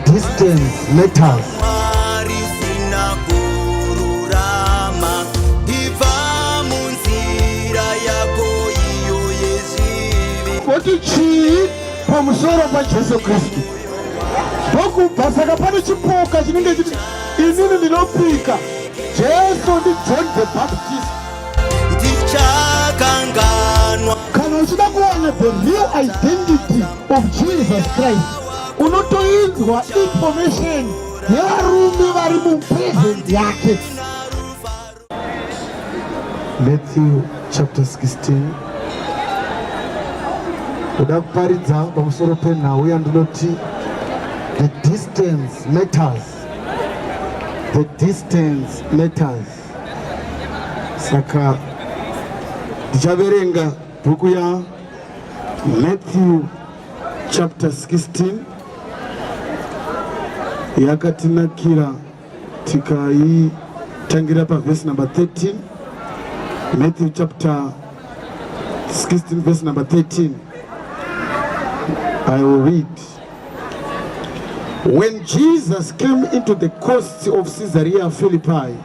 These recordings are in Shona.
distance matters kuti chii pamusoro pajesu kristu ndokubva saka pane chipoka chinenge chiti inini ndinopika jesu ndi john the baptist ndichakanganwa kana uchida kuwana the real identity of Jesus Christ unotoinzwa information yevarume vari mupresent yake Matthew chapter 16 kuda kuparidza pamusoro penhau yandinoti the distance matters the distance matters saka ndichaverenga Bhuku ya Matthew chapter 16 yakatinakira tikaitangira pavhesi number 13 Matthew chapter 16 verse number 13 I will read When Jesus came into the coasts of Caesarea Philippi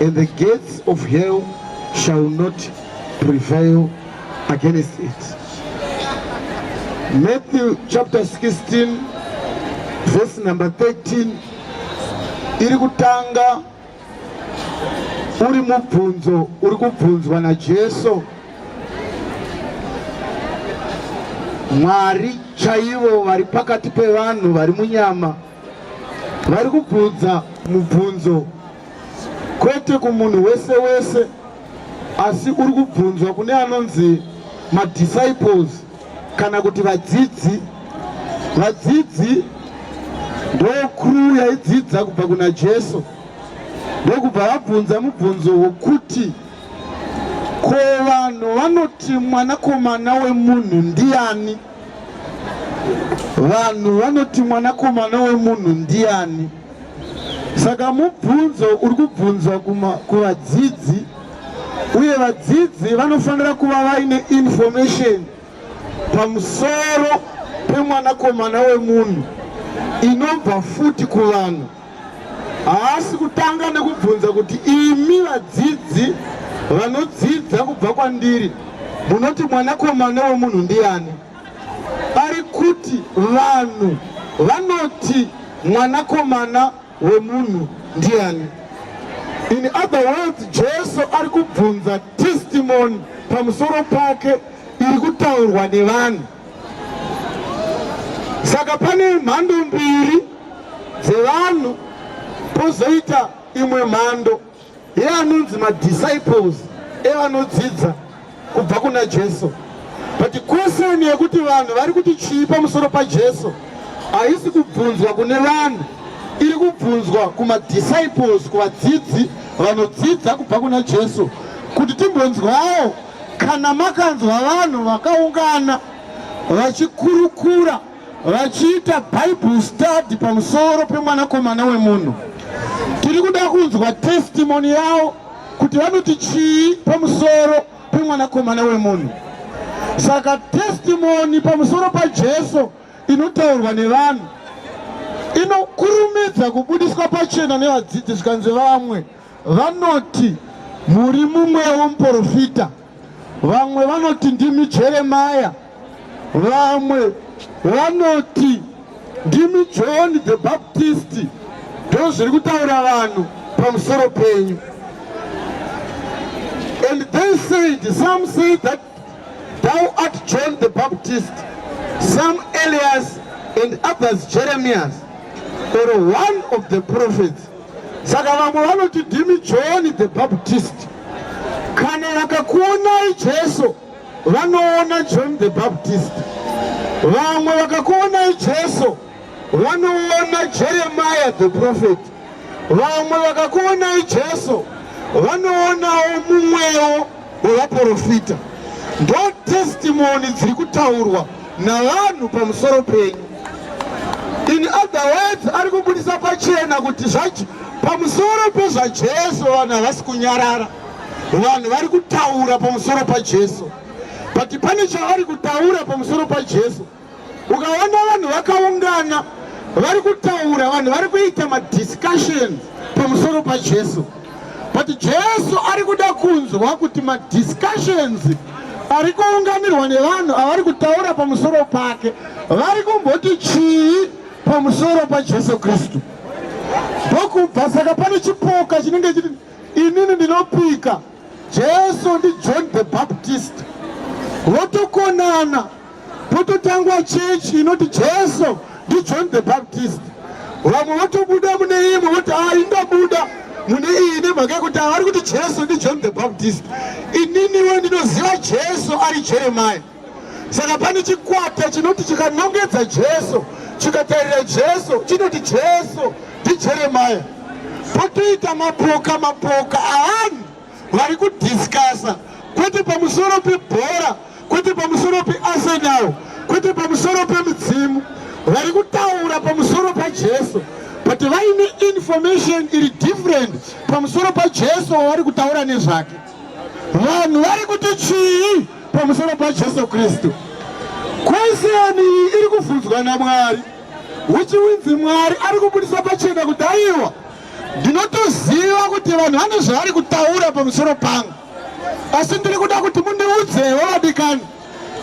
And the gates of hell shall not prevail against it. Matthew chapter 16 verse number 13 iri kutanga uri mubvunzo uri kubvunzwa naJesu Mwari chaivo vari pakati pevanhu vari munyama vari kubvunza mubvunzo kwete kumunhu wese wese asi uri kubvunzwa kune anonzi madisciples kana kuti vadzidzi vadzidzi ndokuru yaidzidza kubva kuna jesu ndokubva vabvunza mubvunzo wokuti ko vanhu vanoti mwanakomana wemunhu ndiani Vanhu vanoti mwanakomana wemunhu ndiani? Saka mubvunzo uri kubvunzwa kuvadzidzi uye vadzidzi vanofanira kuva vaine information pamusoro pemwanakomana wemunhu inobva futi kuvanhu. haasi kutanga nekubvunza kuti imi vadzidzi vanodzidza kubva kwandiri munoti mwanakomana wemunhu ndiani ari kuti vanhu vanoti mwanakomana wemunhu ndiani in other words jesu ari kubvunza testimony pamusoro pake iri kutaurwa nevanhu saka pane mhando mbiri dzevanhu pozoita imwe mhando yeanonzi madisciples evanodzidza kubva kuna jesu but kweseni yekuti vanhu vari kuti chii pamusoro pajesu haisi kubvunzwa kune vanhu iri kubvunzwa kumadisciples kuvadzidzi vanodzidza kubva kuna jesu kuti timbonzwawo kana makanzwa vanhu vakaungana vachikurukura vachiita bible study pamusoro pemwanakomana wemunhu tiri kuda kunzwa testimony yavo kuti vanoti chii pamusoro pemwanakomana wemunhu saka testimony pamusoro pajesu inotaurwa nevanhu inokurumidza kubudiswa pachena nevadzidzi zvikanzi vamwe Vanoti muri mumwewo muporofita, vamwe vanoti ndimi Jeremaya, vamwe vanoti ndimi John the Baptist. Ndoo zviri kutaura vanhu pamusoro penyu. And they said, some say that Thou art John the Baptist, some Elias, and others Jeremias, or one of the prophets. Saka vamwe vanoti ndimi John the Baptist. Kana vakakuonai Jesu, vanoona John the Baptist. Vamwe vakakuonai Jesu vanoona Jeremiah the prophet. Vamwe vakakuonai Jesu vanoonawo mumwewo wevaprofita. Ndo testimony dziri kutaurwa navanhu pamusoro penyu. In other words, ari kubudisa pachena kuti zvacho pamusoro pezvaJesu vanhu havasi kunyarara. Vanhu vari kutaura pamusoro paJesu. But pane chavari kutaura pamusoro paJesu. ukaona vanhu vakaungana vari kutaura vanhu vari kuita madiscussion pamusoro pajesu but jesu ari kuda kunzwa kuti madiscussions ari kuunganirwa nevanhu avari kutaura pamusoro pake vari kumboti chii pamusoro pajesu kristu ndokubva saka pane chipoka chinenge chiti inini ndinopika jesu ndijohn the baptist votokonana Pototangwa church inoti Jesu ndi John the Baptist. Vamwe votobuda mune imwe voti ah indabuda mune iyi nemhaka yekuti avari kuti Jesu ndi John the Baptist. Ininiwo ndinoziva Jesu ari Jeremiah. Saka pane chikwata chinoti chikanongedza Jesu chikatarira Jesu chinoti Jesu ndi Jeremiah. Potoita mapoka mapoka aani vari kudhiskasa kwete pamusoro pebhora kwete pamusoro pearsenal kwete pamusoro pemudzimu vari kutaura pamusoro pajesu but vaine information iri different pamusoro pajesu wavari kutaura nezvake vanhu vari kuti chii pamusoro pajesu kristu kweseni iyi iri kubvunzwa namwari uchiwinzi mwari ari kubudisa pachena kudaiwa ndinotoziva kuti vanhu vane zvavari kutaura pamusoro pangu asi ndiri kuda kuti mundiudzewo vadikani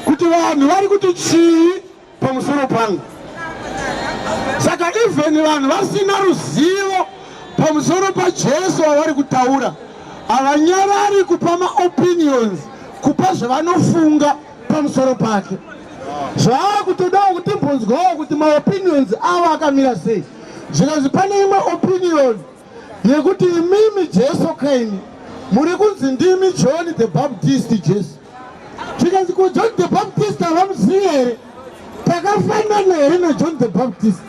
kuti vanhu vari kuti chii pamusoro pangu saka even vanhu vasina ruzivo pamusoro pajesu wavari kutaura havanyarari kupa maopinions kupa zvavanofunga pamusoro pake zvaava kutodawo kuti mbonzwawo kuti maopinions avo akamira sei zvikanzi pane imwe opinion yekuti imimi jesu kaini muri kunzi ndimi john the baptist jesu zvikanzi ko john the baptist havamuzivi here takafanana here najohn the baptist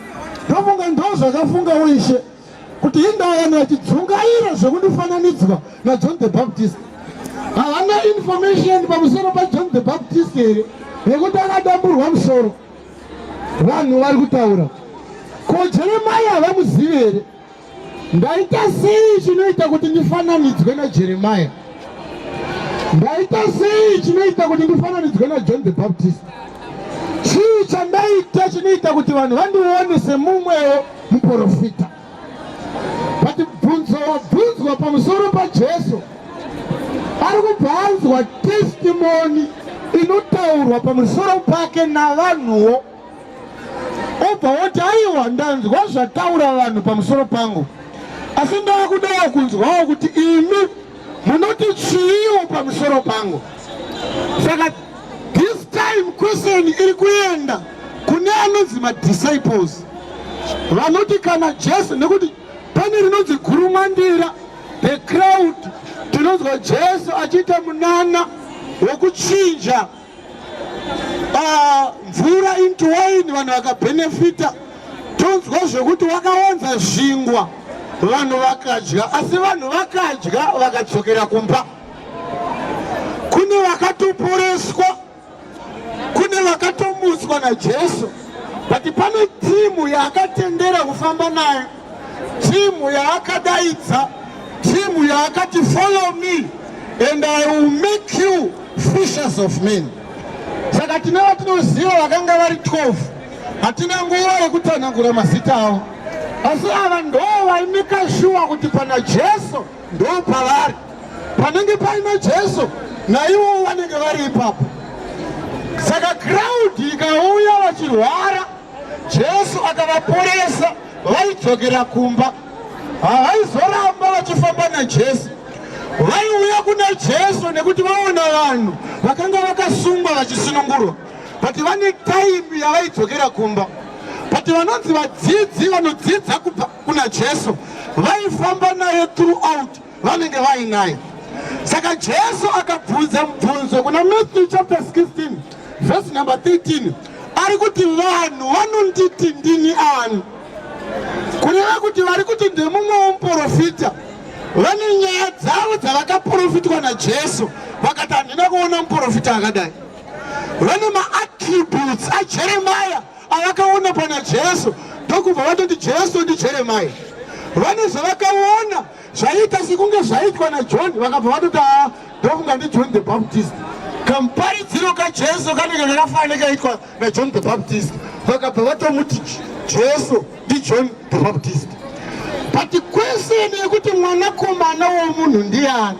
ndofunga ndo zvakafungawo ishe kuti indaa vanhu vachidzungaira zvekundifananidzwa najohn the baptist havana information pamusoro pajohn the baptist here yekuti akadamburwa musoro vanhu vari kutaura ko jeremai havamuzivi here ndaita sei chinoita kuti ndifananidzwe najeremai ndaita sei chinoita kuti ndifananidzwe najohn the baptist chii chandaita chinoita kuti vanhu vandione semumwewo muporofita vati bvunzo wabvunzwa pamusoro pajesu ari kubva anzwa testimoni inotaurwa pamusoro pake navanhuwo obva woti aiwa ndanzwa zvataura vanhu pamusoro pangu asi ndava kudawo kunzwawo kuti imi Munoti chiiwo pamusoro pangu? Saka this time question iri kuenda kune anonzi madisciples vanoti kana Jesu nekuti pane rinonzi gurumwandira the crowd tinonzwa Jesu achiita munana wekuchinja ah, mvura uh, into wine vanhu vakabenefita tonzwa zvekuti wakawanza zvingwa vanhu vakadya asi vanhu vakadya vakadzokera kumba kune vakatoporeswa kune vakatomutswa najesu but pane timu yaakatendera kufamba nayo Timu yaakadaidza, timu yaakati follow me and I will make you fishers of men. Saka tine vatinoziva vakanga vari 12 hatina nguva yekutsanangura mazita avo, asi ava ndo vaimika shuwa kuti pana Jesu ndo pavari, panenge paina Jesu naivo vanenge vari ipapo. Saka crowd ikauya vachirwara Jesu akavaporesa vaidzokera kumba. Havaizoramba vachifamba naJesu. Vaiuya kuna Jesu nekuti vaona vanhu vakanga vakasungwa vachisunungurwa. But vane time yavaidzokera kumba. But vanonzi vadzidzi vanodzidza kubva kuna Jesu vaifamba naye throughout vanenge vainaye saka jesu akabvunza mubvunzo kuna matthew chapter 16 vhesi number 13 ari kuti vanhu vanonditi ndini ani kureva kuti vari kuti ndemumwe womuprofita vane nyaya dzavo dzavakaprofitwa najesu vakati handina kuona muprofita akadai vane maattributes ajeremaya avakaona pana jesu ndokubva vatoti jesu ndijeremaya vane zvavakaona Zvaiita sekunge zvaitwa naJohn vakabva vatoti haa ndofunga ndiJohn the Baptist. Kamuparidziro kaJesu kanenge kakafanana kaitwa naJohn the Baptist vakabva vatomuti Jesu ndiJohn the Baptist. But kweseni yekuti mwanakomana womunhu ndiani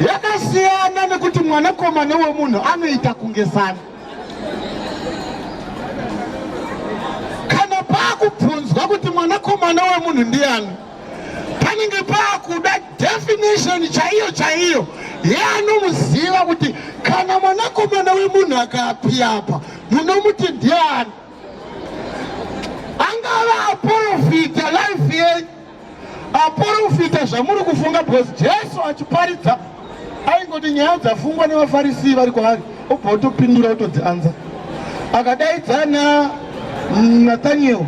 yakasiyana nekuti mwanakomana womunhu anoita kunge sani. Kana pakubvunzwa kuti mwanakomana womunhu ndiani panenge paakuda definition chaiyo chaiyo yeanomuziva kuti kana mwanakomana wemunhu akapi apa munomuti ndiani angava aporofita life yenyu aporofita zvamuri kufunga because jesu achiparidza aingoti nyaya dzafungwa nevafarisi vari kwaari obva otopindura otodzianza akadaidzana nathaniel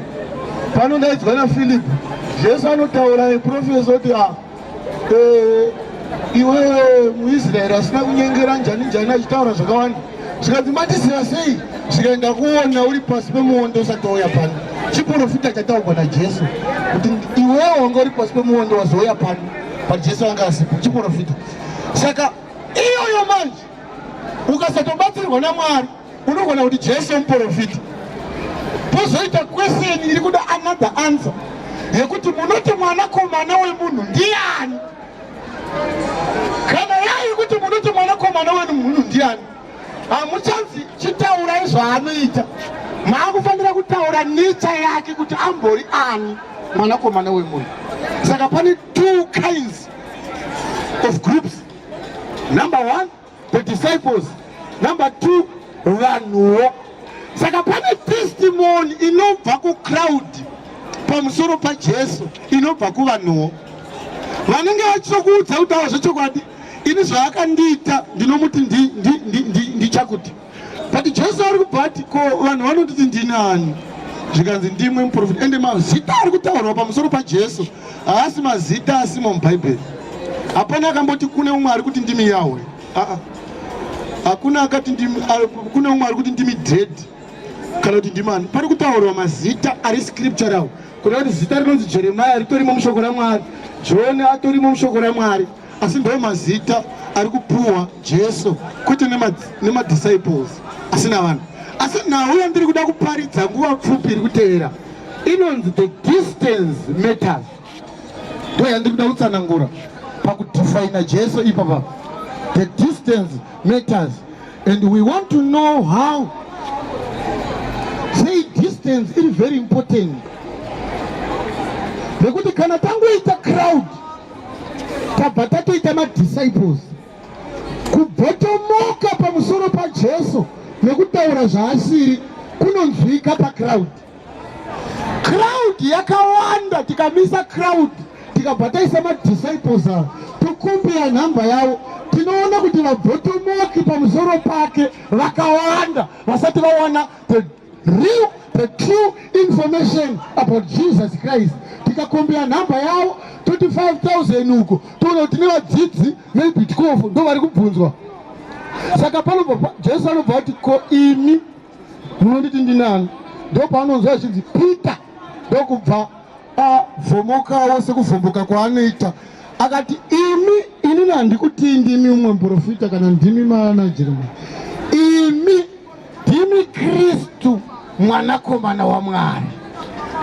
panodaidzwa nafilipi jesu anotaura neprofesa kuti ah, eh, iwewe muisraeri asina kunyengera njani njani achitaura zvakawanda zvikanzi matisira sei zvikaenda kuona uri pasi pemuondo usati wauya pano chiprofita chataurwa najesu kuti iwewe wanga uri pasi pemuondo wazouya pano but Jesu anga asipo chiporofita saka iyoyo manje ukasatobatsirwa naMwari unogona kuti Jesu muporofita pozoita question iri kuda another answer yekuti munoti mwanakomana wemunhu ndiani kana yai kuti munoti mwanakomana wemunhu ndiani hamuchanzi chitaurai zvaanoita maakufanira kutaura necha yake kuti ambori ani mwanakomana wemunhu saka pane two kinds of groups number one the disciples number two vanhuwo saka pane testimony inobva kucrowd pamusoro pajesu inobva kuvanhuwo vanenge vachitokuudza kutaura zvechokwadi ini zvaakandiita ndinomuti ndichakuti but jesu ari kubva ati ko vanhu vanotiti ndini ani zvikanzi ndimwe muprofita ende mazita ari kutaurwa pamusoro pajesu haasi mazita asimo mubhaibheri hapana akamboti kune umwe ari kuti ndimi yahwe aa hakuna akati kune umwe ari kuti ndimi dred kana kuti ndimani pari kutaurwa mazita ari scriptural Kuda kuti zita rinonzi Jeremiah ritorimo mushoko raMwari, John atorimo mushoko raMwari, asi ndo mazita ari kupuwa Jesu kwete nemadisciples asi navanhu. Asi nhau yandiri kuda kuparidza nguva pfupi iri kutevera inonzi the distance matters, ndo yandiri kuda kutsanangura pakudifaina Jesu ipapa, the distance matters. And we want to know how sei distance iri very important nekuti kana tangoita crowd tabva tatoita madisciples kubhotomoka pamusoro pajesu nekutaura zvaasiri kunonzwika pacrowd crowd yakawanda tikamisa crowd tikabva taisa madisciples avo tokumbira nhamba yavo tinoona kuti vabvotomoki pamusoro pake vakawanda vasati vawana the real the true information about jesus christ tikakumbira nhamba yavo toti 5000 uko toona kuti nevadzidzi maybe 12 ndo vari kubvunzwa saka panobva jesu anobva kuti ko imi munonditi ndinani ndopaanonzwa achinzi peter ndokubva avhomokawo sekuvhomboka kwaanoita akati imi inini handikutii ndimi umwe muprofita kana ndimi manajerema imi ndimi kristu mwanakomana wamwari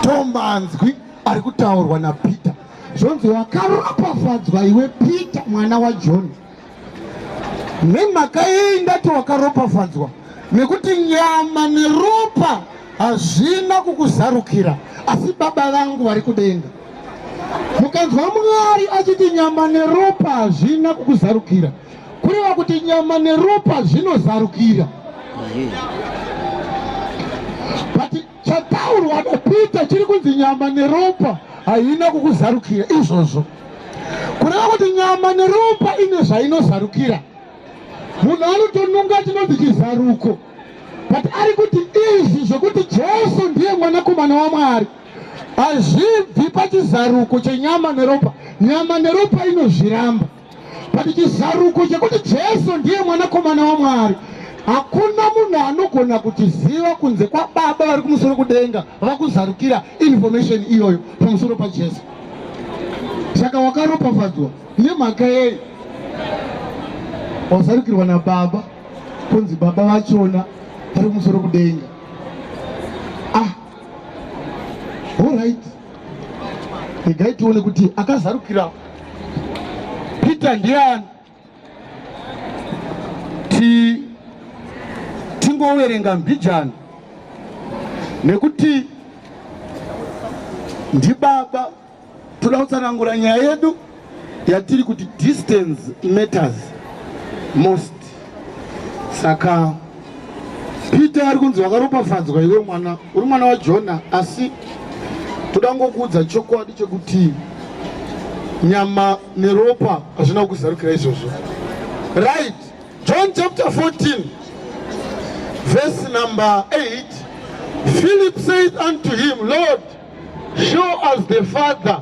tomanzwi ari kutaurwa napeter zvonzi wakaropafadzwa iwe peter mwana wajoni wa Nemhaka yei ndati wakaropafadzwa? Nekuti nyama neropa hazvina kukuzarukira, asi Baba vangu vari kudenga. Mukanzwa Mwari achiti nyama neropa hazvina kukuzarukira, kureva kuti nyama neropa zvinozarukira. But chataurwa napeter chiri kunzi nyama neropa haina kukuzarukira izvozvo kureva kuti nyama neropa ine zvainozarukira munhu anotonunga chinonzi chizaruko but ari kuti izvi zvekuti jesu ndiye mwanakomana wamwari hazvibvi pachizaruko chenyama neropa nyama neropa inozviramba But chizaruko chekuti Jesu ndiye mwanakomana waMwari hakuna munhu anogona kutiziva kunze kwababa vari kumusoro kudenga vakuzarukira information iyoyo pamusoro pajesu saka wakaropafadzwa nemhaka yei wazarukirwa nababa kunzi baba vachona vari kumusoro kudenga ah all right regai tione kuti akazarukira peter ndiani ti tingoverenga mbijana nekuti ndibaba toda kutsanangura nyaya yedu yatiri kuti distance matters most saka peter ari kunzi wakaropafadzwa iwe mwana uri mwana wajona asi toda ngokuudza chokwadi chekuti nyama neropa hazvina kukuzarukira izvozvo right john chapter 14 verse number 8 philip said unto him lord show us the father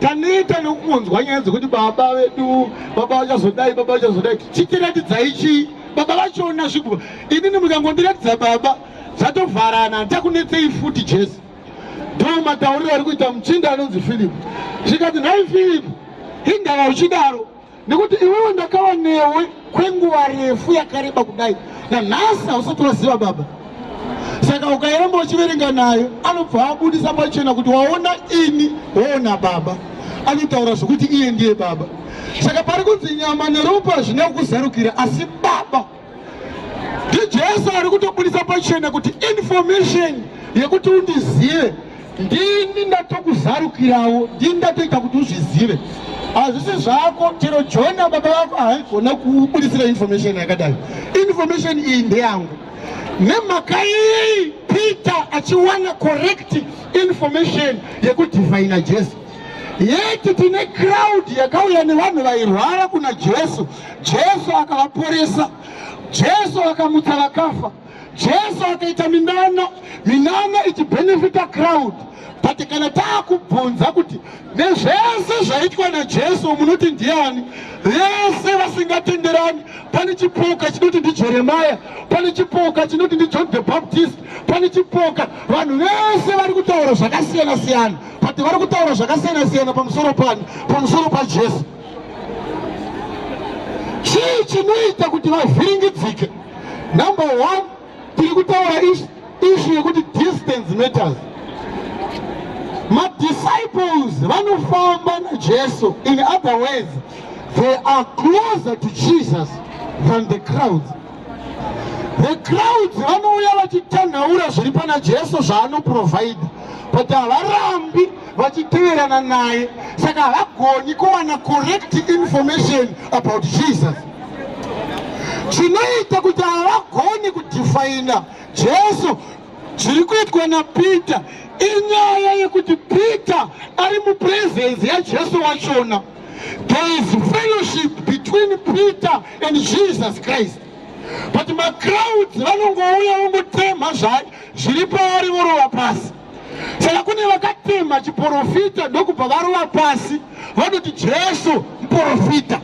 taneta nekunzwa nyaya dzekuti baba vedu baba vachazodai baba vachazodai chitiratidzai chii baba vachiona zvikuba inini mukangondiratidza baba zvatovharana handichakunetsei futi jesu ndo matauriro ari kuita muchinda anonzi filipu zvikati nhai filipu hindava uchidaro nekuti iwewe ndakava newe kwenguva refu yakareba kudai nanhasi hausati waziva baba saka ukairamba uchiverenga nayo anobva abudisa pachena kuti waona ini woona baba anotaura zvekuti iye ndiye baba saka pari kunzi nyama neropa hazvina kukuzarukira asi baba ndijesu ari kutobudisa pachena kuti information yekuti undizive ndini ndatokuzarukirawo ndini ndatoita kuti uzvizive hazvisi zvako chero jona baba vako haigona kubudisira information yakadai information iyi ndeyangu nemhaka iyi peter achiwana correct information yekudivhaina jesu yeti tine crowd yakauya nevanhu vairwara kuna jesu Jesu akavaporesa, Jesu akamutsa vakafa, Jesu akaita minana, minana ichibenefita crowd. But kana taakubvunza kuti nezvese zvaitwa naJesu munoti ndiani? Vese vasingatenderani. Pane chipoka chinoti ndiJeremia, pane chipoka chinoti ndiJohn the Baptist, pane chipoka. Vanhu vese vari kutaura zvakasiyana siyana, but vari kutaura zvakasiyana siyana pamusoro pani? Pamusoro paJesu. chii chinoita kuti vavhiringidzike number one tiri kutaura ishu yekuti distance matters madisciples vanofamba najesu in other words they are closer to jesus than the crowds The crowds vanouya vachitanhaura zviri pana Jesu zvaanoprovaida but havarambi vachiteverana naye saka havagoni kuwana correct information about Jesus. Chinoita kuti havagoni kudefaina Jesu zviri kuitwa naPeter inyaya yekuti Peter ari mupresence yaJesu wachona. there is fellowship between peter and jesus christ but macrowds vanongouya vongotemha zviri paari vorova pasi saka kune vakatemha chiprofita ndokubva varova pasi vanoti jesu muprofita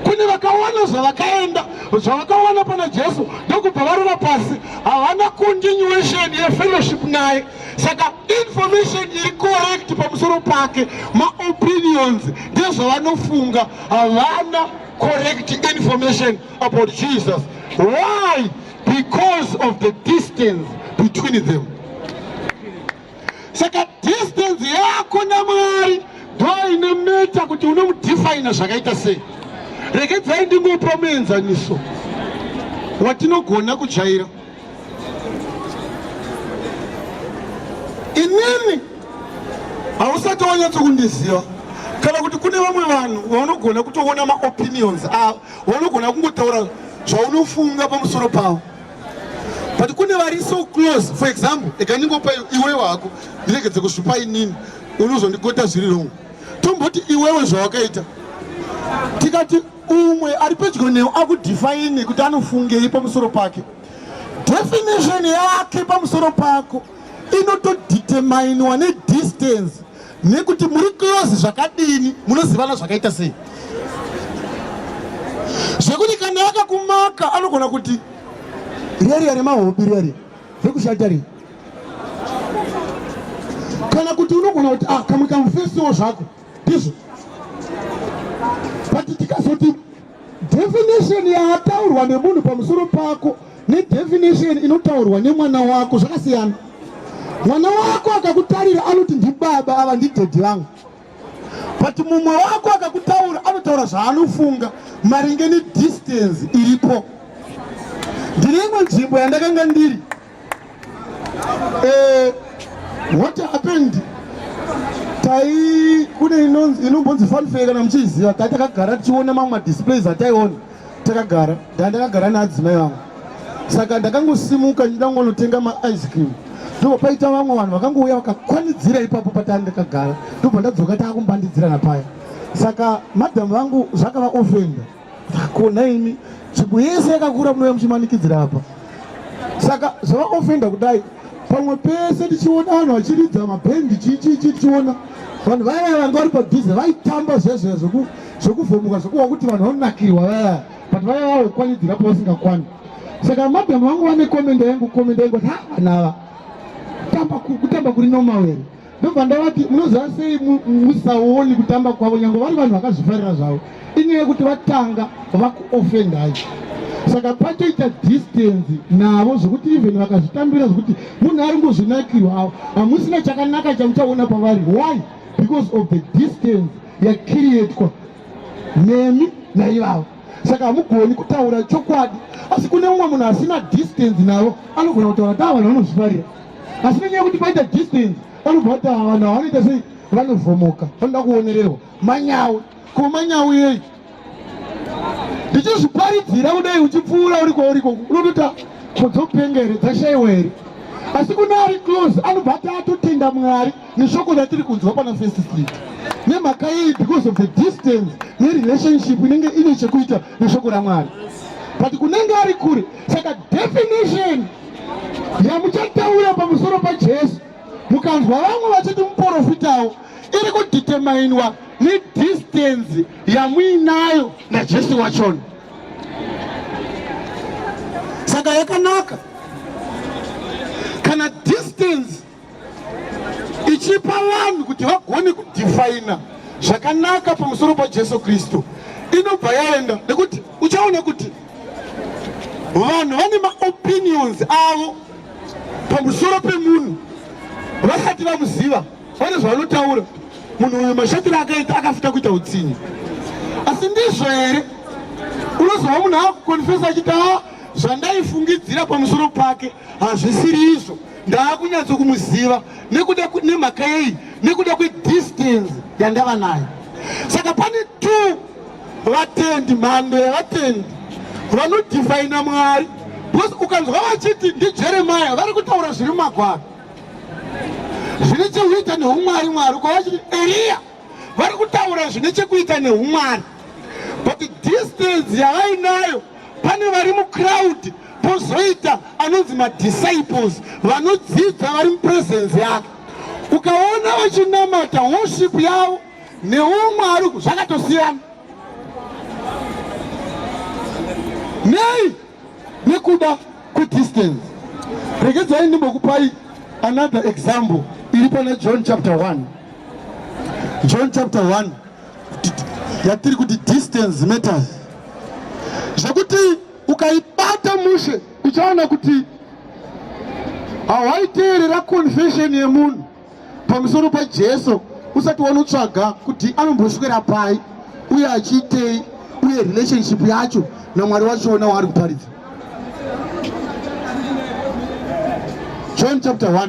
kune vakawana zvavakaenda zvavakawana pana jesu ndokubva varova pasi havana continuation yefellowship naye saka information iri correct pamusoro pake maopinions ndezvavanofunga havana correct information about jesus why because of the distance between them saka distance yako namwari ndoine meta kuti unomudefina zvakaita sei regedzai ndingopa muenzaniso watinogona kujaira inini hausati wanyatso kundiziva kana kuti kune vamwe vanhu vanogona kutoona maopinions avo vanogona kungotaura zvaunofunga pamusoro pavo but kune vari so close for example ekandingopa iwe wako ndiregedze kuzvipa inini unozondigota zviri rongo tomboti iwewe zvawakaita tikati umwe ari pedyo newe akudhifaine kuti anofungei pamusoro pake definition yake pamusoro pako inotodeterminiwa nedistance nekuti muri close zvakadini munozivana zvakaita sei zvekuti kana yakakumaka anogona kuti riariya remahopi riari rekushata ri kana kuti unogona kuti ah kamwe kamufesiwo zvako ndizvo but tikazoti definition yaataurwa nemunhu pamusoro pako nedefinition inotaurwa nemwana wako zvakasiyana mwana wako akakutarira anoti ndibaba ava ndidhedhi vangu but mumwe wako akakutaura anotaura zvaanofunga maringe nedistance iripo ndiri imwe nzvimbo yandakanga ndiri Eh, what happened? Tai kune inombonzi fanfare kana muchiziva tai takagara tichiona mamwe madisplays ataiona takagara ndaa ndakagara neadzimai vangu saka ndakangosimuka ndida kungonotenga maice cream ndobva paita vamwe vanhu vakangouya vakakwanidzira ipapo pataa ndakagara ndobva ndadzoka taakumbandidzira napaya saka madhamu vangu zvakavaofenda Hakuna imi nzvimbo yese yakakura munouya muchimanikidzira apa saka zvavaofenda kudai pamwe pese tichiona vanhu vachiridza mabhendi chichichi tichiona vanhu vaya vaya vanga vari padhuze vaitamba zvezve zvekuvhomuka zvekuva kuti vanhu vanonakirwa vaya but vaya vava kukwanidzira pavasingakwani saka madhamu vangu vane komenda yangu komenda yangu kuti ha vanava kutamba kuri nomawere ndobva ndavati munoziva sei musaoni kutamba kwavo nyange vari vanhu vakazvifarira zvavo inyaya yekuti vatanga vakuofendai saka patoita distance navo zvekuti even vakazvitambira zvekuti munhu ari ngozvinakirwa avo hamusina chakanaka chamuchaona pavari why because of the distance yakiriyetwa nemi naivavo saka hamugoni kutaura chokwadi asi kune mumwe munhu asina distance navo anogona kutaura ta vanhu vanozvifarira asi nenyaya yekuti paita distance vanobva kuti ava vanhu havanoita sei vanovhomoka vanoda kuonererwa manyawi ko manyawi yei ndichizviparidzira kudai uchipfuura uri kwauri koko unotota kodzopenga here dzashaiwa here asi kune ari close anobva ati atotenda mwari neshoko ratiri kunzwa pana first street nemhaka yei because of the distance nerelationship inenge ine chekuita neshoko ramwari but kunenge ari kure saka definition yamuchataura pamusoro pajesu mukanzwa vamwe vachiti muporofitawo iri kuditemainwa nedhistenzi yamuinayo najesu wachona saka yakanaka kana distance ichipa vanhu kuti vagone kudifaina zvakanaka pamusoro pajesu kristu inobva yaenda nekuti uchaona kuti vanhu vane maopinions avo pamusoro pemunhu vasati vamuziva vane zvavanotaura munhu uyu mashatiro akaita akafuta kuita utsinye asi ndizvo here unozova munhu akukonfesa achiti a zvandaifungidzira pamusoro pake hazvisiri izvo ndaakunyatso kumuziva nekuda nemhaka yei nekuda kwedistance yandava nayo saka pane two vatendi mhando yevatendi vanodhifaina mwari because ukanzwa vachiti ndijeremaya vari kutaura zviri mumagwaro zvine chekuita neumwari mwari uko vachiti eriya vari kutaura zvine chekuita neumwari but distance yavainayo pane vari mucrowd pozoita anonzi madisciples vanodzidza vari mupresence yake ukaona vachinamata worship yavo neumwe ari zvakatosiyana nei nekuda kwedistance regedzai ndimbokupai another example iri pana john chapter 1 john chapter 1 yatiri kuti distance matters zvekuti ukaibata mushe uchaona kuti hawaiteerera confession yemunhu pamusoro pajesu usati wanotsvaga kuti anomboswera pai uye achiitei uye relationship yacho namwari wachona waari kuparidza john chapter 1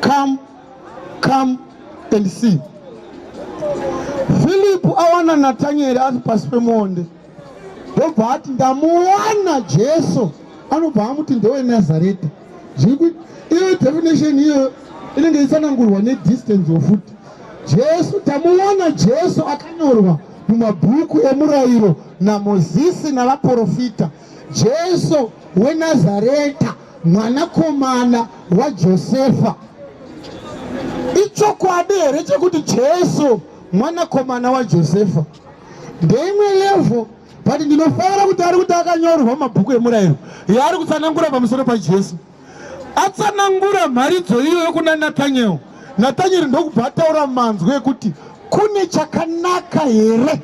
Come, come and see. Philip awana Nathaniel ari pasi pemuonde ndobva ati ndamuwana Jesu anobva amuti ndewe Nazareta. Zvikuti iyo definition iyo inenge isanangurwa ne distance of foot. Jesu tamuwana Jesu akanyorwa mumabhuku emurayiro naMozisi navaporofita Jesu weNazareta. mwanakomana waJosefa. Ichokwadi here chekuti Jesu mwanakomana waJosefa? Ndeimwe levo but ndinofanira kuti ari kuti akanyorwa mabhuku emurayiro yaari kutsanangura pamusoro pajesu atsanangura mharidzo iyo yokuna natanyeri natanyeri ndokubva ataura manzwi ekuti kune chakanaka here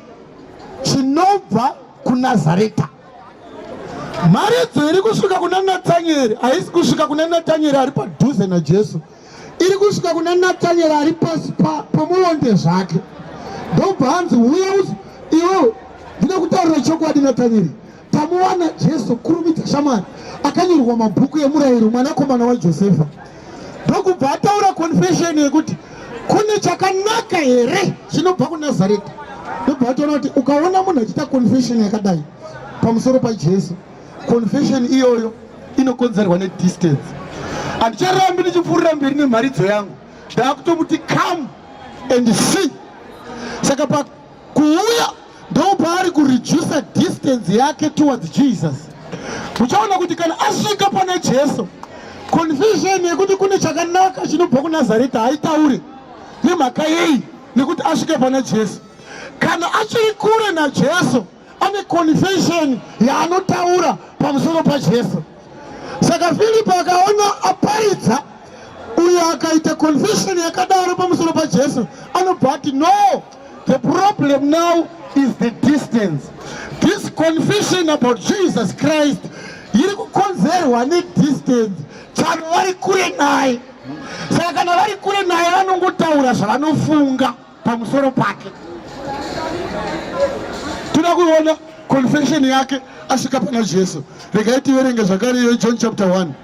chinobva kunazareta Mharidzo iri kusvika kuna Natanyeri haisi kusvika kuna Natanyeri ari padhuze naJesu, iri kusvika kuna Natanyeri ari pasi pomuonde zvake. Ndobva hanzi uya uzi iwe ndine kutaurira chokwadi Natanyeri, tamuwana Jesu, kurumidza shamwari, akanyorwa mabhuku emurayiro, mwanakomana waJosefa. ndokubva ataura confession yekuti kune chakanaka here chinobva kunazareta ndobva ataura kuti ukaona munhu achiita confession yakadai pamusoro pajesu confession iyoyo inokonzerwa nedistance handicharambi ndichipfuurira mberi nemharidzo yangu ndaakutomuti come and see saka kuuya ndopaari kureducer distance yake towards jesus uchaona kuti kana asvika pana jesu confusion yekuti kune chakanaka chinobva kunazareta haitaure nemhaka yei nekuti asvika pana jesu kana achiri kure najesu ane confusion yaanotaura pamusoro pajesu saka filipo akaona aparidza uyo akaita confusion yakadaro pamusoro pajesu anobva ati no The problem now is the distance. This confession about Jesus Christ iri kukonzerwa nedistance chano vari kure naye saka kana vari kure naye vanongotaura zvavanofunga pamusoro pake toda kuona confession yake asvika pana jesu regai tiverenge zvakare iyo john chapter 1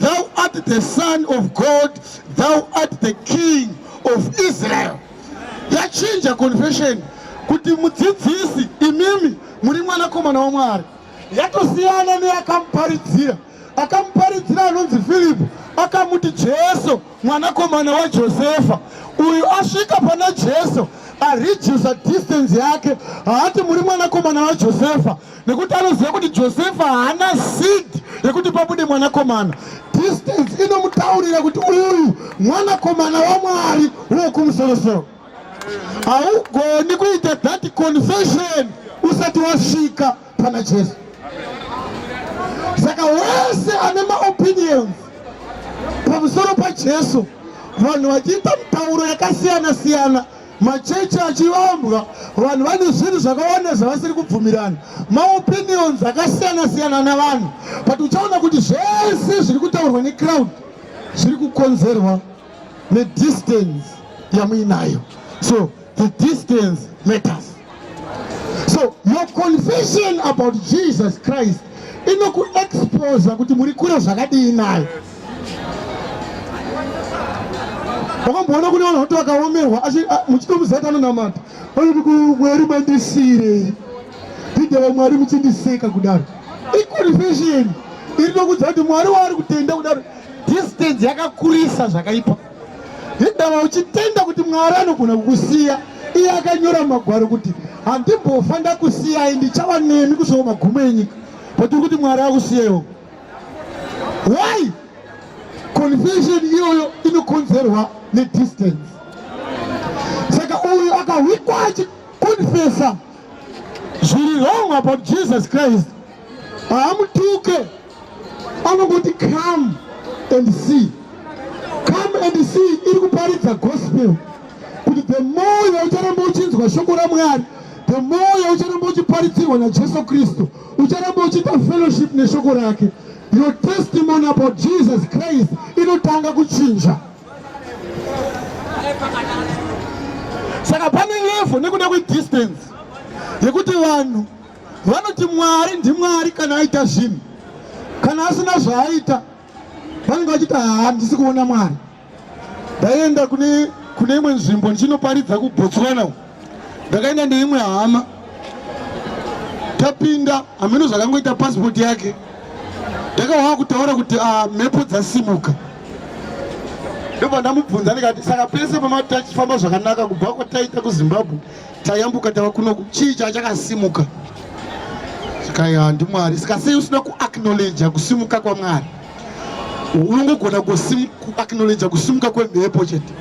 Thou art the son of God, thou art the king of Israel. Yachinja confession kuti mudzidzisi imimi muri mwanakomana waMwari. Yatosiyana neyakamuparidzira. Akamuparidzira anonzi Filipo akamuti Jesu mwanakomana waJosefa. Uyu asvika pana Jesu aredusa distance yake haati muri mwanakomana waJosefa. nekuti anoziva kuti josefa haana seed yekuti pabude mwanakomana distance inomutaurira kuti uyu mwanakomana wamwari wokumusorosoro haugoni kuita that confession usati wasvika pana jesu saka wese ane maopinions pamusoro pajesu vanhu vachiita mitauro yakasiyana siyana machechi achivambwa vanhu vane zvinhu zvakawanda zvavasiri kubvumirana maopinions akasiyana siyana navanhu but uchaona kuti zvese zviri kutaurwa necrowd zviri kukonzerwa nedistance yamuinayo so the distance matters so your confession about jesus christ inokuexposa kuti muri kure zvakadii naye wakamboona kune vanhu vati vakaomerwa muchitomuzati anonamata vanoti kumwari mandisirei ndidava mwari muchindiseka kudaro iconfession iri nokudza kuti mwari waari kutenda kudaro distance yakakurisa zvakaipa hindava uchitenda kuti mwari anogona kukusiya iye akanyora mumagwaro kuti handimbofa ndakusiyai ndichava nemi kusvika magumo enyika but uri kuti mwari akusiyewo why confession iyoyo inokonzerwa nedistance saka uyu akahwikwa achikonfesa zviri wrong about jesus christ haamutuke anongoti come and see come and see iri kuparidza gospel kuti the more yaucharamba uchinzwa shoko ramwari the more yaucharamba uchiparitsirwa najesu kristu ucharamba uchiita fellowship neshoko rake your testimony about jesus christ inotanga kuchinja saka pane levo nekuda kwedistance yekuti vanhu vanoti mwari ndimwari kana aita zvinhu kana asina zvaaita vanenge vachiti handisi kuona mwari ndaienda kune kune imwe nzvimbo ndichinoparidza kubotswana u ndakaenda neimwe hama tapinda hameno zvakangoita pasipoti yake ndakawaa kutaura kuti ah, mhepo dzasimuka ndobva ndamubvunza ndikati saka pese pamati tachifamba zvakanaka kubva kwataita kuzimbabwe tayambuka tava kunoku chii chachakasimuka kaya ndimwari saka sei usina kuacknowledja kusimuka kwamwari unongogona kuacknowledja kusimuka kwemhepo chete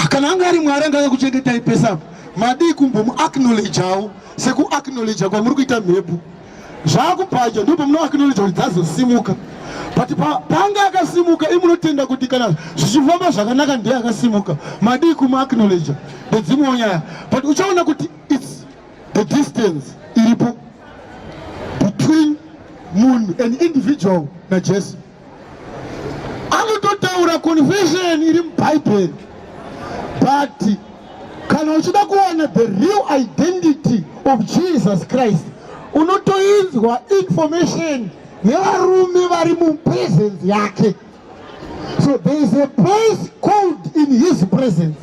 kana anga ari mwari anga akakuchengetai pesa madii kumbomuacknowledjawo sekuacknowledja kwamuri kuita mhepo zvakubvajo ndipo muno acknowledge kuti dzazosimuka but panga akasimuka imunotenda kuti kana zvichifamba zvakanaka ndiye akasimuka madii kumaaknowledge ndedzimwewo nyaya but uchaona kuti its the distance iripo between munhu an individual najesu anototaura confession iri mubhaibheri but kana uchida kuwana the real identity of jesus christ unotoinzwa information yevarume vari mupresence yake so there is a place called in his presence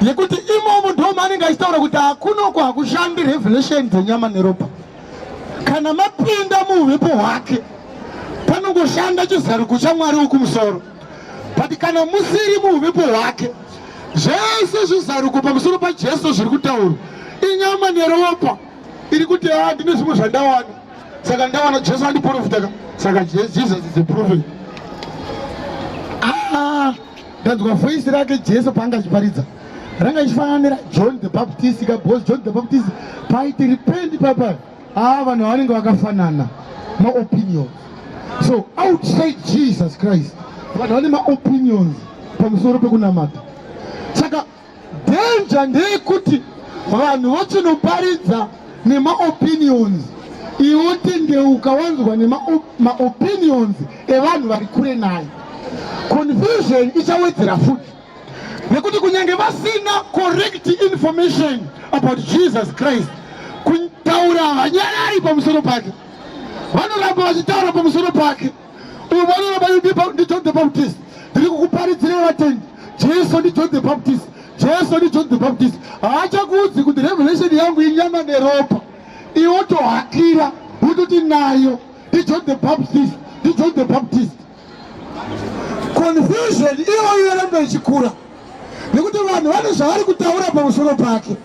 nekuti imomo ndo maanenge achitaura kuti hakunoko hakushandi revelation dzenyama neropa kana mapinda muuvepo hwake panongoshanda chizaruko chamwari wekumusoro but kana musiri muuvepo hwake zvese zvizaruko pamusoro pajesu zviri kutaurwa inyama neropa iri kuti a ah, ndine zvimwe zvandawana saka ndawana jesu andiprofitaka saka jesus is a prophet ah. ndanzwa voice rake jesu paanga achiparidza ranga ichifananira john the baptist ka because john the baptist paaiti repent papa aa vanhu vanenge vakafanana maopinion so outside jesus christ vanhu vane maopinions pamusoro pekunamata saka Danger ndeyekuti vanhu vochinoparidza nemaopinions iwe wotendeuka wanzwa nemaopinions evanhu vari kure naye. Confusion ichawedzera futi nekuti kunyange vasina correct information about Jesus Christ kutaura havanyarari pamusoro pake, vanoramba vachitaura pamusoro pake. uyu mwana wabaidipa ndi john the baptist ndiri kukuparidzirei vatendi jesu ndi john the baptist jesu ndi john the baptist haachakuudzi kuti revelation yangu inyama neropa iwo tohakira kuti tinayo ndi john the baptist ndi john the baptist confusion iyoyo yoramba ichikura nekuti vanhu vane zvavari kutaura pamusoro pake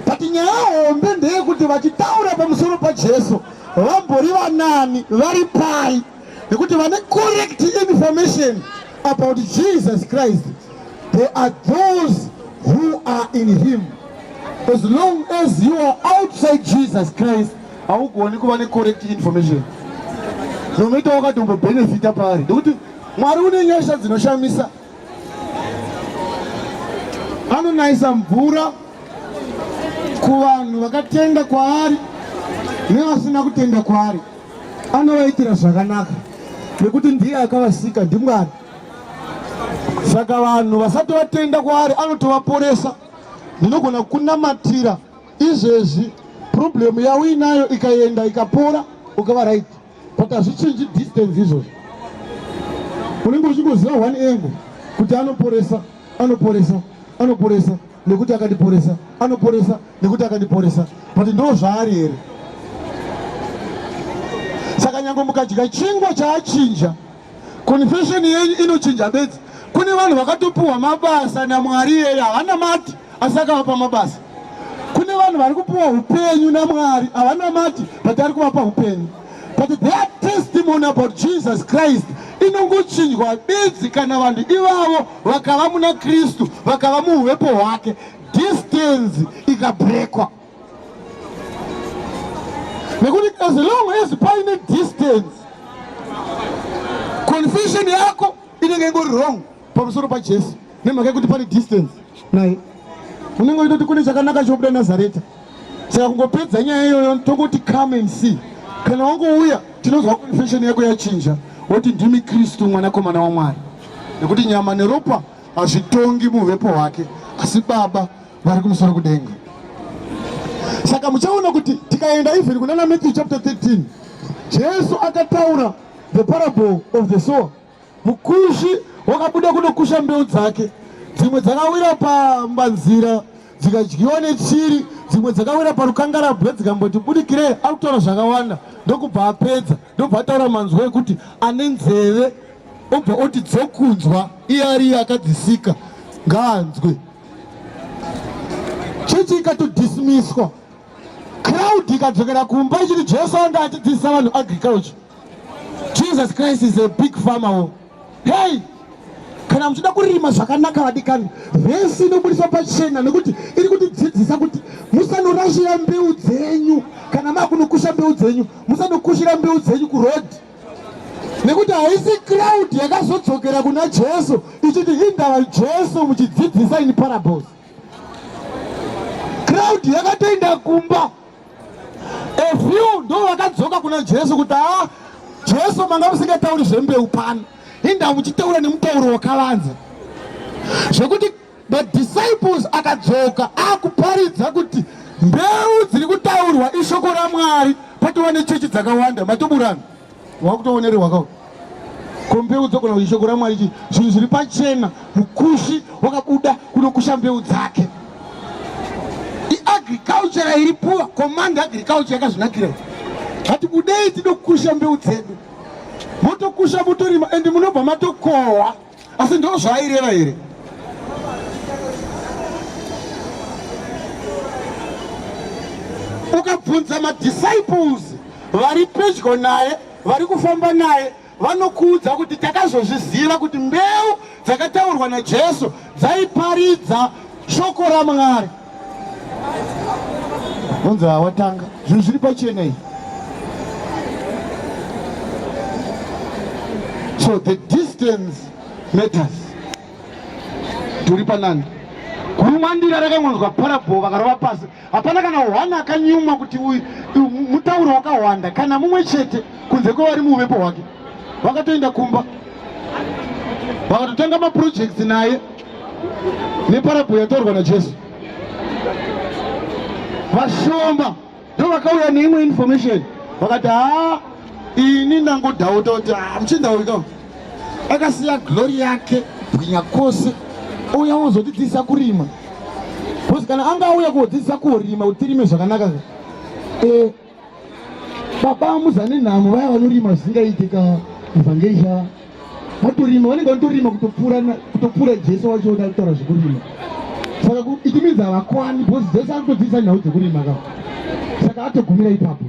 but nyaya hombe ndeyekuti vachitaura pamusoro pajesu vambori vanani vari pai nekuti vane correct information about jesus christ they are those who are in him as long as you are outside jesus christ haugoni kuva necorrect information zvinoita wakatombobenefita paari nekuti mwari une nyasha dzinoshamisa Anonayisa mvura kuvanhu vakatenda kwaari nevasina kutenda kwaari, anovaitira zvakanaka nekuti ndiye akavasika, ndiMwari. Saka vanhu vasati vatenda kwaari anotovaporesa. Ndinogona kunamatira izvezvi, problemu yauinayo ikaenda ikapora, ukava right. but hazvichinji distance izvozvo unenge uchingoziva one angle kuti anoporesa anoporesa anoporesa nekuti akandiporesa anoporesa nekuti akandiporesa but ndo zvaari here saka nyange mukadya chingwa chaachinja Confession yenyu inochinja bedzi. Kune vanhu vakatopiwa mabasa naMwari yeye havana mati asi akavapa mabasa. Kune vanhu vari kupiwa upenyu naMwari havana mati but ari kuvapa upenyu. But their testimony about Jesus Christ inongochinjwa bedzi kana vanhu ivavo vakava muna Kristu vakava muuvepo hwake distance ikabrekwa. nekuti as long as paine distance confession yako inenge ingori wrong pamusoro pajesu nemhaka yekuti pane distance naye unenge uchitoti kune chakanaka chobuda nazareta saka kungopedza nyaya iyoyo tongoti come and see kana wangouya tinonzwa confession yako yachinja woti ndimi kristu mwanakomana wamwari nekuti nyama neropa hazvitongi muvepo hwake asi baba vari kumusoro kudenga saka muchaona kuti tikaenda even kunana matthew chapter 13 jesu akataura the parable of the sower mukushi wakabuda kunokusha mbeu dzake dzimwe dzakawira pambanzira dzikadyiwa nechiri dzimwe dzakawira parukangarabwe dzikamboti budikirei ari kutaura zvakawanda ndokubva apedza ndobva ataura manzwa ekuti ane nzeve obva oti dzokunzwa iye ariye akadzisika ngaanzwe chechi ikatodismiswa crowd ikadzokera kumba ichiti jesu anga achidzidzisa vanhu agriculture jesus christ is a big farmer wo hey kana muchida kurima zvakanaka vadikani vhesi inobudiswa pachena nekuti iri kutidzidzisa kuti musanokushira mbeu dzenyu kana makunokusha mbeu dzenyu musanokushira mbeu dzenyu kurodhi nekuti haisi crowd yakazodzokera kuna jesu ichiti indava jesu muchidzidzisa in parables crowd yakatoenda kumba a few ndo vakadzoka kuna jesu kuti haa jesu manga musingatauri zvembeu pano inda muchitaura nemutauro wakavanza zvekuti Madisciples akadzoka akuparidza kuti mbeu dziri kutaurwa ishoko raMwari patova nechechi dzakawanda matoburana wakutowonererwa kawo ko mbeu dzogona kuti ishoko raMwari chii zvinhu zviri pachena mukushi wakabuda kunokusha mbeu dzake iagriculture iri puwa command agriculture yakazvinakira hatibudei tidokusha mbeu dzedu motokusha motorima and munobva matokohwa asi ndo zvaaireva here ukabvunza madisciples vari pedyo naye vari kufamba naye vanokuudza kuti takazozviziva kuti mbeu dzakataurwa najesu dzaiparidza shoko ramwari vonzi hawatanga zvinhu zviri pachena iyi so the distance matters turi panani kurumwandira rakangonzwa parabho vakarova pasi hapana kana hwana akanyumwa kuti uyu mutauro wakawanda kana mumwe chete kunze kwevari muuvepo hwake vakatoenda kumba vakatotanga mapurojekti naye neparabho yataurwa najesu vashoma ndo vakauya neimwe information vakati haa ini ndangodhauta kuti ah, muchindaurika akasiya glori yake bwinya kwose ouya wozotidzidzisa kurima bcause kana anga auya kuodzidzisa kurima kuti tirime zvakanaka e baba muzane nhamo vaya vanorima zvisingaite ka evangelisha vatorima vanenge vanotorima kutopfuura jesu wacho oda kutaura zvekurima saka iti minzi havakwani because jesu ari kutodzidzisa nhau dzekurima ka saka atogumira ipapo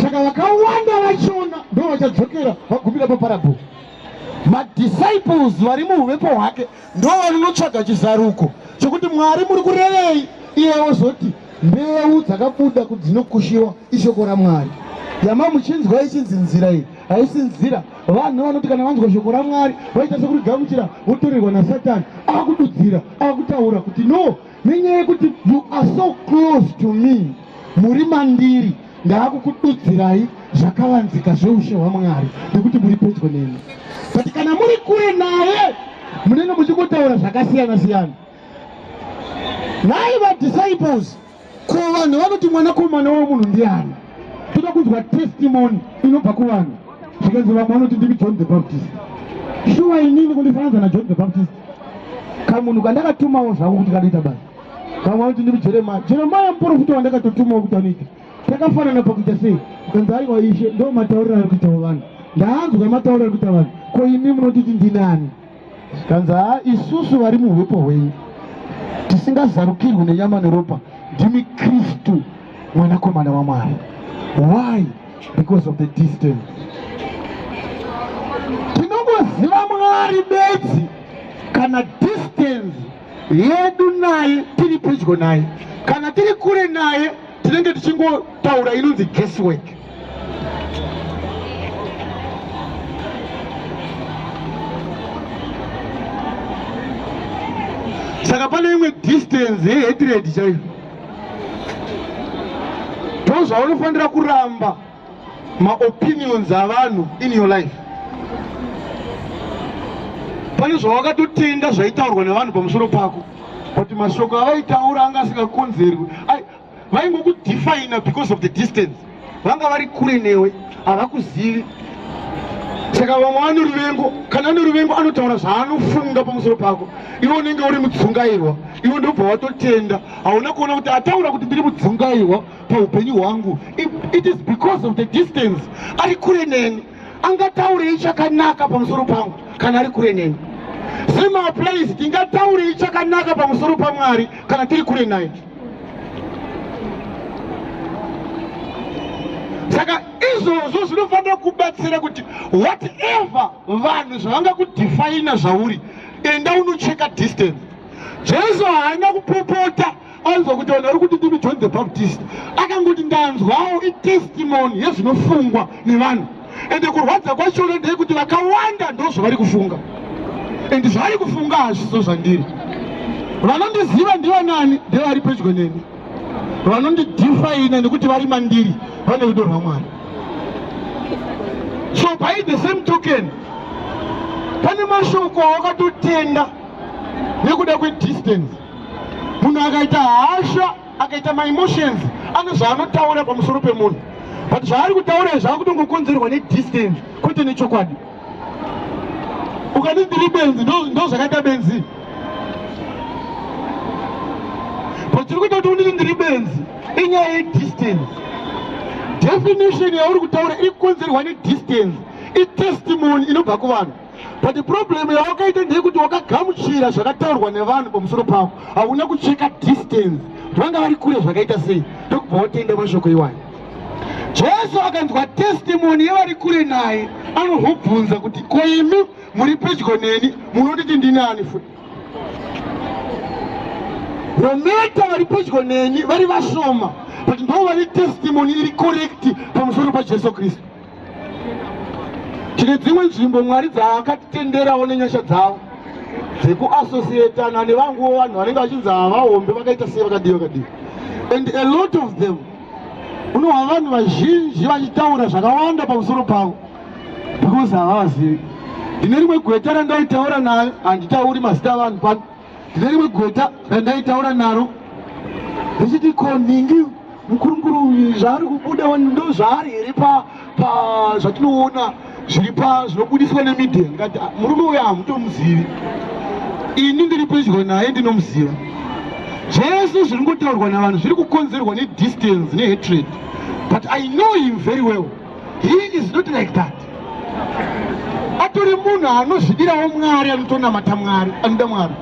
saka vakawanda vachiona ndo vachadzokera vagumira paparabho madisciples vari muuvepo hwake Ndo vanonotsvaga chizaruko chokuti Mwari muri kurevei, iye ozoti mbeu dzakabuda kuti dzinokushiwa ishoko raMwari. Yama muchinzwa ichinzi nzira iyi haisi nzira. Vanhu vanoti kana vanzwa shoko raMwari vaita sekurigamuchira votorerwa naSatani akududzira akutaura kuti no nenyaya yekuti you are so close to me muri mandiri ndaakukududzirai zvakavanzika zveushe hwamwari nekuti muri pedyo neni but kana muri kure naye munenge muchingotaura zvakasiyana siyana nhai vadisciples ko vanhu vanoti mwanakomana wemunhu ndiani toda kunzwa testimony inobva kuvanhu zvikanzi vamwe vanoti ndimi john the baptist shuwa inini kundifananza najohn the baptist kamunhu kandakatumawo zvangu kuti kanoita basa vamwe vanoti ndiri jeremaya jeremaya muporofita wandakatotumawo kuti anoita takafanana pakuita sei kanzi aiwa ishe ndo matauriro ari kuitawo vanhu ndaanzwa matauriro ari kuita vanhu ko imi munotiti ndinani kanzi haa isusu vari muhwepo hwenyu tisingazarukirwi nenyama neropa ndimi kristu mwanakomana wamwari why because of the distance tinongoziva mwari bedzi kana distance yedu naye tiri pedyo naye kana tiri kure naye tinenge tichingotaura inonzi guesswork saka pane imwe distance yehetiredi chaiyo ndozvaunofanira kuramba maopinions avanhu in your life pane zvawakatotenga zvaitaurwa nevanhu pamusoro pako but mashoko avaitaura anga asingakonzerwi vaingokudefina because of the distance vanga vari kure newe havakuzivi saka vamwe vane ruvengo kana ane ruvengo anotaura zvaanofunga pamusoro pako iwe unenge uri mudzungairwa iwe ndobva watotenda hauna kuona kuti ataura kuti ndiri mudzungairwa paupenyu hwangu it is because of the distance ari kure neni angataurei chakanaka pamusoro pangu kana ari kure neni semaapplies tingataurei chakanaka pamusoro pamwari kana tiri kure naye saka izvozvo zvinofanira kubatsira kuti whatever vanhu zvavangakudefina zvauri enda unocheka distance jesu haana kupopota Aiva kuti vanhu vari kuti ndimi John the Baptist. Akangoti ndanzwawo itestimony yezvinofungwa nevanhu. Ende kurwadza kwachona ndeyekuti vakawanda ndozvavari kufunga. Ende zvavari kufunga hazviso zvandiri. Vanondiziva ndiva nani ndevari pedyo neni. Vanondidifaina nekuti vari mandiri vane rudo rwaMwari. So by the same token, pane mashoko awakatotenda nekuda kwedistance munhu akaita hasha akaita maemotions ane zvaanotaura pamusoro pemunhu but zvaari kutaura izvi akutongokonzerwa nedistance kwete nechokwadi ukati ndiri benzi ndo zvakaita benzi but tiri kuita kuti unditi ndiri benzi inyaya yedistance definition yauri kutaura iri kukonzerwa nedistance itestimony inobva kuvanhu but problem yawakaita ndeyekuti wakagamuchira zvakataurwa nevanhu pamusoro pavo hauna kucheka distance kuti vanga vari kure zvakaita sei ndokubva wotenda mashoko iwayo jesu akanzwa testimoni yevari kure naye anohobvunza kuti ko imi muri pedyo neni munotiti ndini ani futi nometa vari pedyo neni vari vashoma but ndo vane testimoni iri korekti pamusoro pajesu kristu tine dzimwe nzvimbo mwari dzaakatitenderawo nenyasha dzavo dzekuassociatana nevanguwo vanhu vanenge vachinzi havahombe vakaita sei vakadii vakadii and a lot of them unohwa vanhu vazhinji vachitaura zvakawanda pamusoro pavo because havavazivi ndine rimwe gweta randaitaura nayo handitauri mazita avanhu pano ndine rimwe gweta randaitaura naro richiti ko nhingi mukurunguru zvaari kubuda ndo zvaari here pa zvatinoona zviri pa zvinobudiswa nemedia ngati ah, murume uyo hamutomuzivi ini ndiri pedyo naye ndinomuziva zvese zviri ngotaurwa navanhu zviri kukonzerwa nedistance nehatred but i know him very well He is not like that. Atori munhu anozvidirawo Mwari anotonamata Mwari anoda Mwari.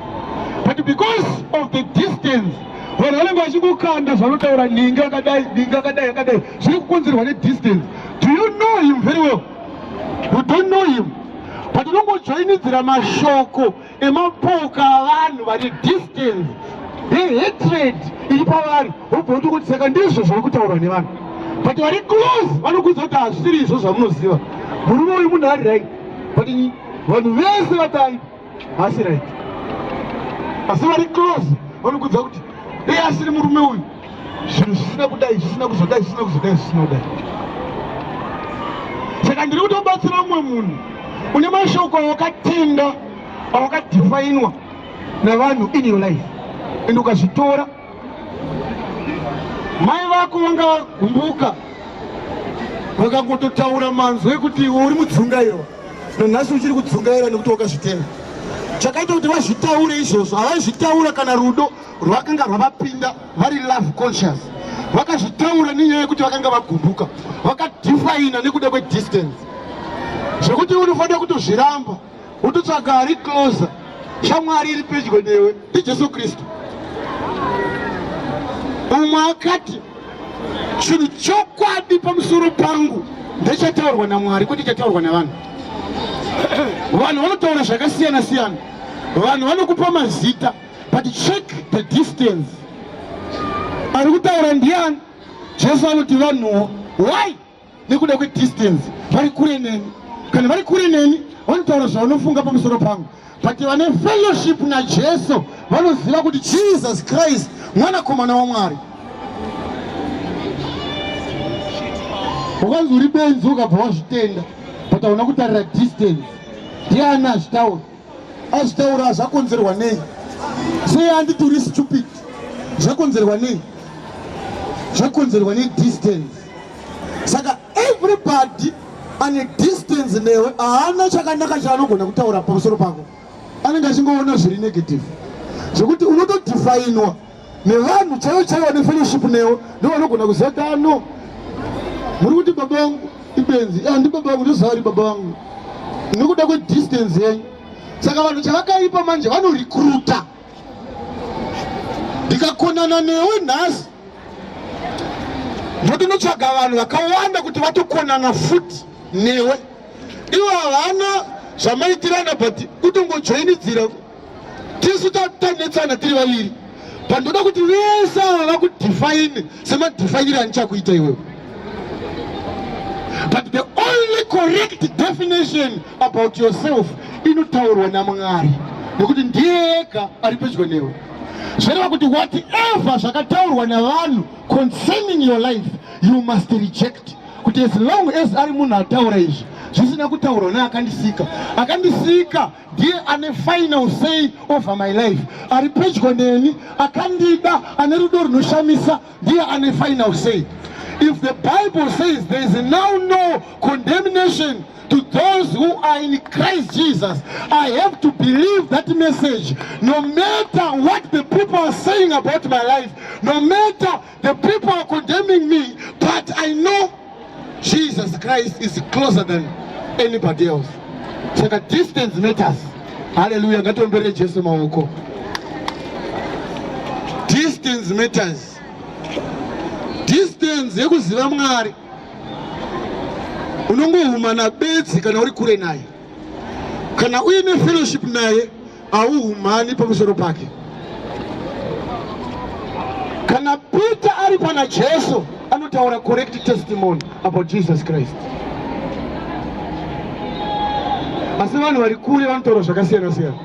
But because of the distance vanhu vanenge vachikukanda zvanotaura ningi akadai ningi akadai akadai zviri kukonzerwa nedistance do you know him very well you don't know him but unongojoinidzira mashoko nemapoka avanhu vane distance nehatred iri pavari wobva kuti kuti saka ndizvo zviri kutaurwa nevanhu but vari close vanokudza kuti hazvisiri izvo zvamunoziva murume uyu munhu ari right but vanhu vese vadai hasi right asi vari close vanokudza kuti dei asiri murume uyu zvinhu zvisina kudai zvisina kuzodai zvisina kuzodai zvisina kudai saka ndiri kutobatsira umwe munhu une mashoko awakatenda awakadhifainwa navanhu in your life and ukazvitora mai vako vanga vagumbuka vakangototaura manzwi ekuti iwe uri mudzungairwa nanhasi uchiri kudzungaira nekuti wakazvitenga chakaita kuti vazvitaure izvozvo havazvitaura kana rudo rwakanga rwavapinda vari love conscious vakazvitaura nenyaya yekuti vakanga vagumbuka vakadifaina nekuda kwedistance zvekuti unofanira kutozviramba wototsvaga ari closer shamwari iri pedyo newe ndijesu kristu umwe akati chinhu chokwadi pamusoro pangu ndechataurwa namwari kwete chataurwa navanhu vanhu vanotaura zvakasiyana siyana vanhu vanokupa mazita but check the distance ari kutaura ndiani jesu anoti vanhuwo why nekuda kwedistance vari kure neni kana vari kure neni vanotaura zvavanofunga pamusoro pangu but vane fellowship najesu vanoziva kuti jesus christ mwanakomana wamwari ukanzi uri benzi ukabva wazvitenda but hauna kutarira distance ndiani azvitaura azvitaura zvakonzerwa nei sei anditori stupid zvakonzerwa nei zvakonzerwa nedistance saka everybody ane distance newe haana chakanaka chaanogona kutaura pamusoro pako anenge achingoona zviri negative zvekuti unotodifainwa nevanhu chaivo chaivo vane fellowship newo ndovanogona kuziva kano muri kuti baba vangu ibenzi ah, ndi baba vangu ndoziva vari baba vangu nekuda kwedistance yenyu saka vanhu chavakaipa manje vanorekruta ndikakonana newe nhasi ndotinotsvaga vanhu vakawanda kuti vatokonana futi newe ivo havana zvamaitirana but kutongojoinidzira tisu tanetsana tiri vaviri but ndoda kuti vese ava vakudefine semadefinire andichakuita iwewe but the only correct definition about yourself inotaurwa namwari nekuti ndiye ega ari pedyo newe zvoreva kuti whatever zvakataurwa navanhu concerning your life you must reject kuti as long as ari munhu ataura izvi zvisina kutaurwa neakandisika akandisika ndiye ane final say over my life ari pedyo neni akandida ane rudo runoshamisa ndiye ane final say if the bible says there is now no condemnation to those who are in christ jesus i have to believe that message no matter what the people are saying about my life no matter The people are condemning me, but I know Jesus Christ is closer than anybody else. Saka distance matters. Hallelujah. Ngatombere Jesu maoko. Distance matters. Distance yekuziva Mwari. Unongohumana bedzi kana uri kure naye. Kana uine fellowship naye Auhumani pamusoro pake. Kana Peter ari pana Jesu anotaura correct testimony about Jesus Christ. Asi vanhu vari kure vanotaura zvakasiyana siyana.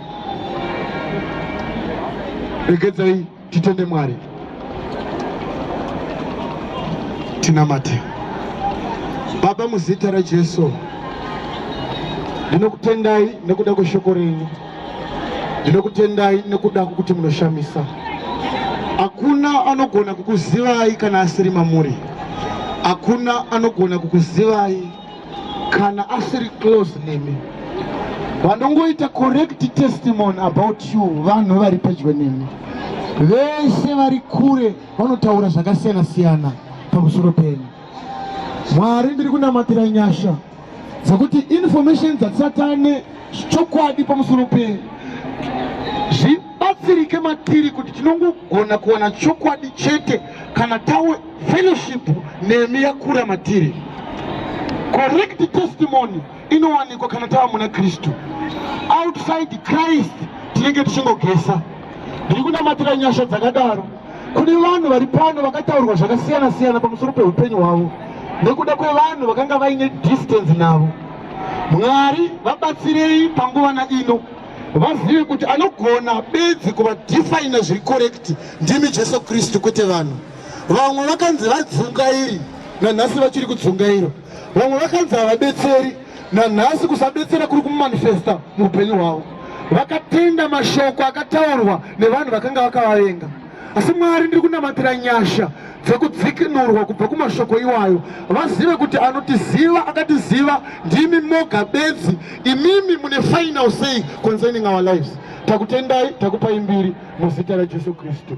Regedzai Titende Mwari, tinamate. Baba, muzita raJesu ndinokutendai nekuda kweshoko renyu, ndinokutendai nekuda kwekuti munoshamisa. Hakuna anogona kukuzivai kana asiri mamuri, hakuna anogona kukuzivai kana asiri close nemi vanongoita correct testimony about you vanhu vari pedyo nemi vese vari kure vanotaura zvakasiyana siyana pamusoro penyu mwari ndiri kunamatira nyasha dzekuti information dzatisatane chokwadi pamusoro penyu zvibatsirike matiri kuti tinongogona kuwana chokwadi chete kana tawe fellowship nemi yakura matiri correct testimony inowanikwa kana tava muna kristu outside christ tinenge tichingogesa ndiri kunamatira nyasha dzakadaro kune vanhu vari pano vakataurwa zvakasiyana siyana pamusoro peupenyu hwavo nekuda kwevanhu vakanga vaine distance navo mwari vabatsirei panguva na ino vazive kuti anogona bedzi kuvadefaina zviri korekti ndimi jesu kristu kwete vanhu vamwe vakanzi vadzungairi nanhasi vachiri kudzungairwa vamwe vakanzi havabetseri nanhasi kusabetsera kuri kumanifesta muupenyu hwavo vakatenda mashoko akataurwa nevanhu vakanga vakavavenga asi mwari ndiri kunamatira nyasha dzekudzikinurwa kubva kumashoko iwayo vazive kuti anotiziva akatiziva ndimi moga bedzi imimi mune final say concerning our lives takutendai takupai mbiri muzita rajesu kristu